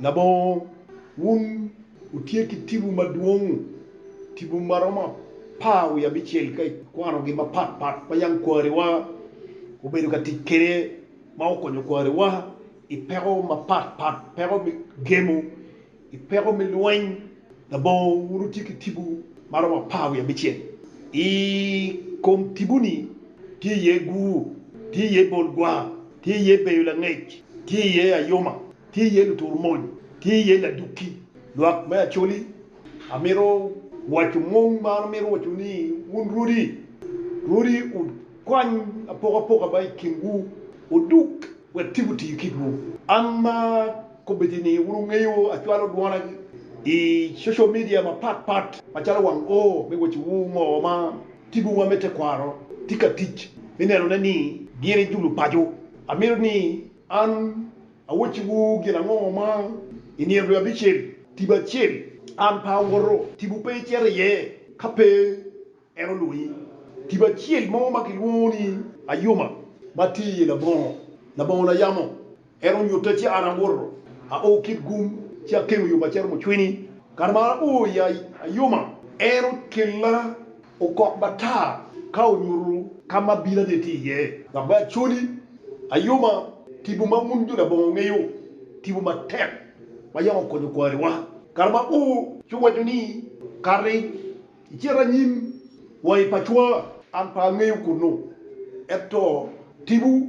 Labongo, wun wutye ki tibu madwong, tibu ma romo apar wiye abicel ka ikwanogi mapat pat ma yam kwariwa obedo ka tic kwede ma okonyo kwariwa i peko mapat pat, peko me gemo, i peko me lweny. Labongo, wun wutye ki tibu ma romo apar wiye abicel. I kom tibu-ni tye iye gur, tye iye bol gwar, Tye iye beyo langec, tye iye ayoma, tye iye lutur mony, tye iye ladukki. Lwak me Acholi, Amito waco mung ma an amito waco ni wun rwodi, rwodi wukwany apokapoka ma i kinwu odug wek tibu tiyo kitwu. An ma kobedi ni wun wungeyo acwalo dwona i social media mapat pat macalo wang oo me wacowu ngo ma Tipowa me tekwaro tye ka tic me nenone ni gin ejulu paco. Amito ni an awacciwu gin ango ma i nino dwe abicel, tipo acel an pe awoto, tipo pe icito iye ka pe en olwonyi, tipo acel mo ma kilwongo ni ayuma ma tye iye labongo, labongo na yamo En onyutta ci an awoto, ao kit gum, ci akemo yo maciro mucwini. Kare ma an oo i ayoma, en okella okok matar ka onyuto ka ma abirane tye iye. Dok me acoli, ayoma, tipo ma wun jo labongo wungeyo, tipo matek ma yam okonyo kwariwa kare ma oo, ci owaco ni, Kati, icit anyim wa i pacwa. An pe angeyo kunnu, ento tipo.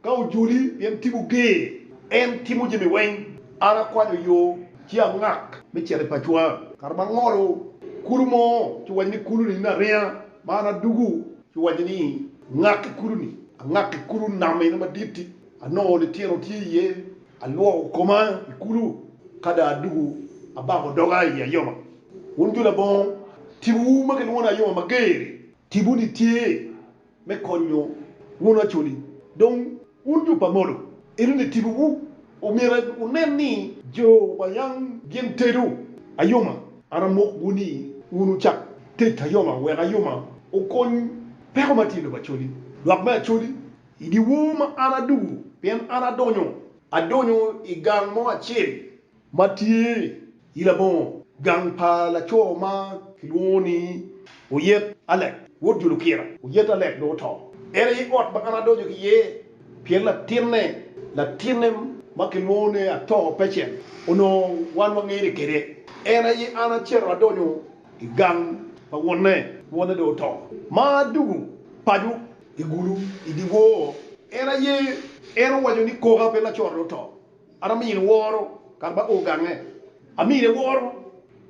Ka ojoli, pien timwu ger. En timo jami weng. An akwanyo yo ci angak me cito i pacwa. Kare ma angolo kulu mo ci waco ni, 'Kulu ni naringa, ma an adugu, ci waco ni, 'Ngak i kulu ni. Angak i kulu nam eno madit-ti, anongo litino tye iye, alwoko koma i kulu, ka dong adugu abako doga i ayoma. Wun jo labongo, timwu ma kilwongo ni ayoma mager-ri. Timwu ni tye me konyo wunu acholi. Dong wun jo pa molo, elu ni tibuwu, omyero wunen ni jo pa yang gin tedo ayoma. An amokwu ni wun wucak tet ayoma wek ayoma okony peko ma tye i lobo acholi. Lwak me acholi, I dyewor ma an adugo, pien an adonyo, adonyo i gang mo acel ma tye i labongo gang pa laco ma kilwongo ni Oyet Alec, wod jo Lukira. Oyet Alec dong oto. En aye ot ma an adonyo ki iye pien latinne, latinne ma kilwongo ni Atoo Pecen, onongo wan wangene kwede. En aye an acito adonyo i gang pa wonne, wonne dong oto, ma adwogo paco i gulu i dyewor. En aye en owaco ni, 'Koka pe lacorre oto, An amiyo niworo kare ma o gange, amiyo niworo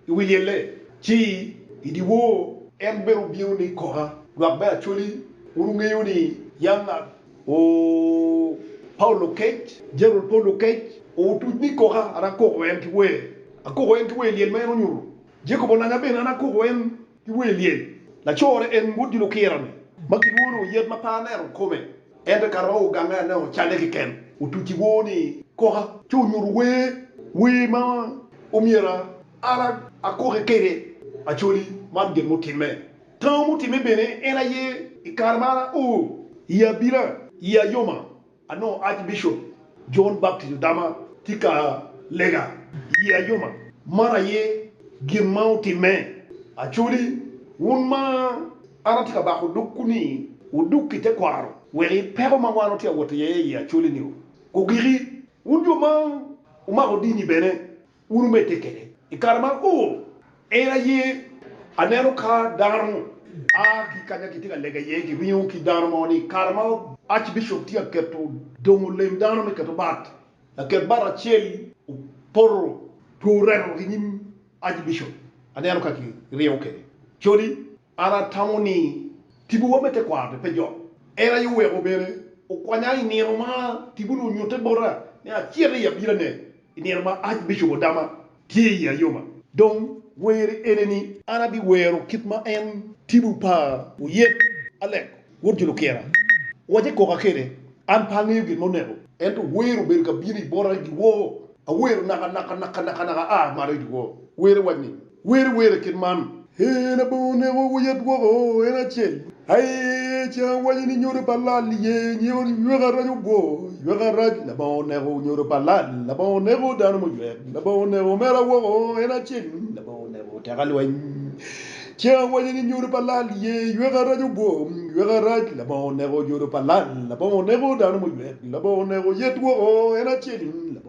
i wi lyelle ci i dyewor. En bene obino ni koka, lwak me Acholi, wun wungeyo ni yam an o Paulo kec, Jeneral Paulo kec, o otuc ni koka, an akoko en ki wer, akoko en ki wer lyel ma en onyuto, Jacob onanya bene, an akoko en. ki wer lyel. Lacorre en ngut dilo okira-ni ma kilwongo ni Oyet ma pe aneno kome, ento ka romo ogange aneno calle keken. Otuc i wor ni koka ci onyuto wer wer ma omyero an akoke kwede. Acholi, man gin mutimme. Tango mutimme bene en aye i kare ma an ao i abila i ayoma. Anongo Archbishop John Baptist Odama tye ka lega i ye ayoma, maro aye gin ma otimme. Acholi, wun ma an atye ka bako dogwu ni wudug ki tekwaro wek i peko ma wan watye ka wot iye i ye acholi-ni ogiki. Wun jo ma wumako dini bene, Wurumedde kwede i kare man. O, en aye aneno ka dano a ki kanya kitye ka lega iye, kiringo ki dano mo ni kare ma Archbishop tye ka keto dongo lem dano me keto bat, laket bat acel opoto two remo ki nyim Archbishop. Aneno ka kiringo kwede. Codi, an atamo ni tibuwa me tekwaro-ni pe jok. En aye oweko bene okwanya i nino ma tibu-ni onyutte bota ni acit i abirane I nino ma ac bicubo dama tye i ayoma. Dong weri ene ni. An abiwero kit ma en tibu pa. Oyet, Alek, wod Julukira, wace koka kede, an pe angeyo gin ma oneko. Ento wer obedo ka bino i bota i dyewor. Awero naka naka naka naka naka aa malo i dyewor. Wer ewac ni. Wer iwere kit man. Ee, Labongo oneko wa yat woko en acel. Aee, ce awaco ni nyodo pa lal iye nyeko ywek arac ogwo, ywek arac, Labongo oneko nyodo pa lal, Labongo oneko dano muywek, Labongo oneko omera woko en acel, Labongo oneko teka lweny. Ce awaco ni nyodo pa lal iye ywek arac ogwo, ywek arac, Labongo oneko nyodo pa lal, Labongo oneko dano muywek, Labongo oneko yet woko en acel, Labongo.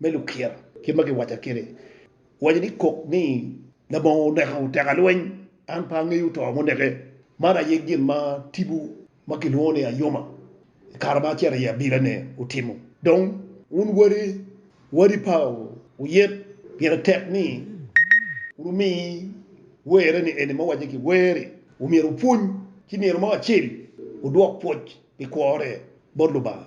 me lukira kit ma giwaca kede, waco ni kok ni labongo oneko teka lweny an pe angeyo to muneke, man aye gin ma tibu ma kilwongo ni Ayoma i kare ma acito i abila ne otimo, dong wun wade wadi pa oyet pire tek ni wumi were ni eni ma owace ki weri omyero opwony ci myero mo acel odwok pwoc pi kwore bot Lubanga.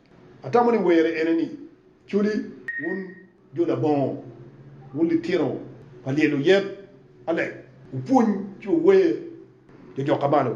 Atamo ni were ene ni, Culi, wun jo labongo, wun litino pa lyelo yet, alec wupwony ci wuwer jo jok ka malo.